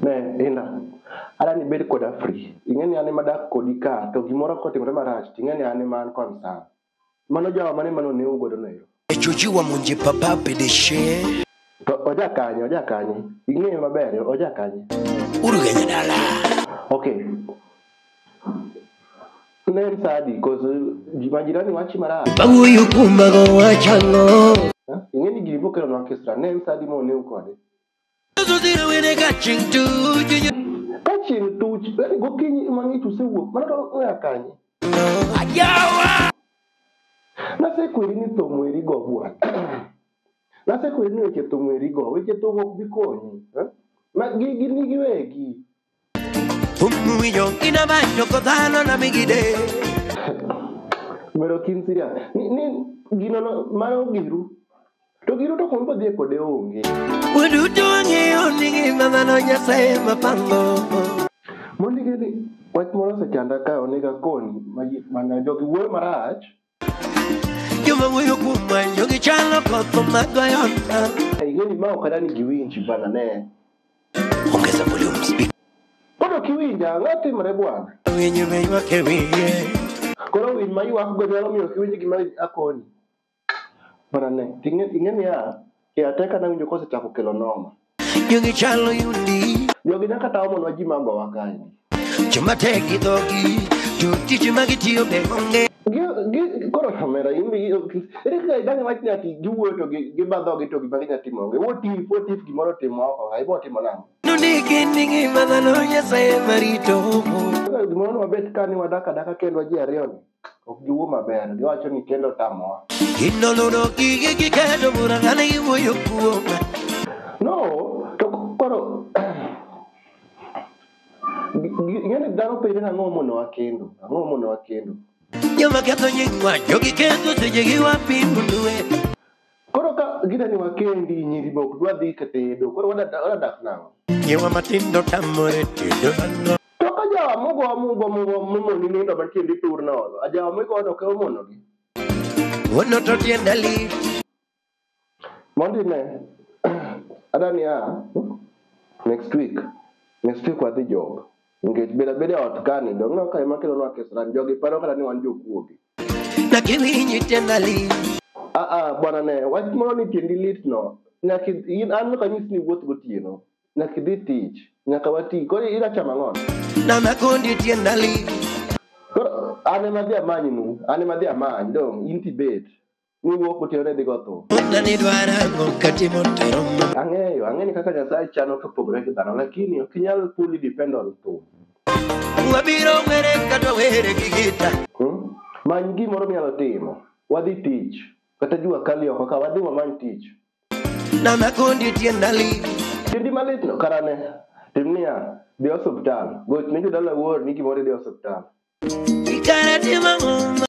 Ne, Indah, adwaro ni ibed koda free. Ing'e ni an ema adak kodi ka, to gimoro kotimore marach, to ing'e ni an ema an concern. Mano jawa mane mane onewu godo no ero? Ejoji wamonje baba pedeshe. To oja kanye, oja kanye? Ing'eyo maber, oja kanye? Urugenya dala. Okay. Ne en saa adi? Cause ji- majirani wachi marach. Bawuoyo kuom mago wachang'o. Eh? Ing'e ni gini bokelo nwa kisra. Ne en saa adi ma onewu kode? Ka chieng' tuch, yani gokinyi ema ng'ich usewuok, mano to oya kanye? Nasekweri ni thum weri go bwana. Nasekweri ni weche thum weri go, weche thum ok bi konyi. eh? Ma gigi ni giwegi. Mero kin siria. Ni, ni gino no, mano giru. To giru to kumbo dhie kode onge. Waduto wang'eyo ni ngima dhano Nyasaye mapango. Mondi gini, wach moro osechanda ka onega koni, ma- mana jogi wuoyo marach. Joma wuoyo kuom manjo gi chalo koth magoyo na. Igeni ma ok adani giwinji bana ne. Ongeza volume speak. Pod ok iwinja, ang'o timre bwana? Winyo be ywak e wiye. Koro winy ma ywakgo nyalo miyo ok iwinj gima akoni. Bwana ne, ing'e- ing'e niya, Kia te kana winjo kose chako kelo noma. Jogi chalo yundi. Jogi nyaka tawo monwa ji mago wa kae. Joma tek gi dhogi, to tich ma gitiyo be onge. Koro kamera imbi ere kaka idang' wach ni ati giwuoyo to giba dhogi to gima ginya timo onge. What if, what if gimoro otimo oko ka ibo timo nang'o? Nondiki ni ngima dhano Nyasaye ema rito. Kaka gimoro nwabet ka ni wadak adaka kendwa ji ariyo ni. ok giwuo maber giwacho ni kendo tamowa Ginoloro gige giketo bura ng'ane giwuoyo kuoma. no to koro ng'eni dhano penjo ni ang'o mono wakendo ang'o mono wakendo Joma ketho nyingwa, jogi ketho seche gi wapimo dwe. Koro ka gida ni wakendi nyiri be ok dwa dhi ka tedo, koro wada- wadadak nang'o? Nyiwa matindo tamore tedo mango. To ka jawa mogo mogo mogo momoni nindo mantie ndi tur nono, a jawa mogo to keo mono gi. Wuono to tienda lit. Mondi ne, ada ni a, next week, next week wadhi job. Nikech beda beda ot kani, dong' ka ema kelo nwa kesran, jogi paro kata ni wan jokuoge. na kiwinyi tienda lit ah, ah, bwana ne wach moro ni tiendi lit no nyaka in an nyaka nyis ni wuoth gotieno nyaka idhi tich nyaka wati koro ira chama ng'on na makondi tienda lit koro an ema dhi amanynu an ema dhi amany dong in tibet Niwuok kutere dhi go thum. Ona ni dwara ang'o katimo tero ma. Ang'eyo, ang'eni kaka Nyasaye chano to pogore gi dhano, lakini ok inyal fully depend on thum. Wabiro were kata were gi gita. Hmm? Many gimoro minyalo timo. Wadhi tich. Kata jua kali oko ka wadhi wamany tich. Na makondi tienda li. Tindi malit no karane. Tim niya, dhi osuptal. Goch ne jodala wuor ni gimoro idhi osuptal. Ikara timang'o.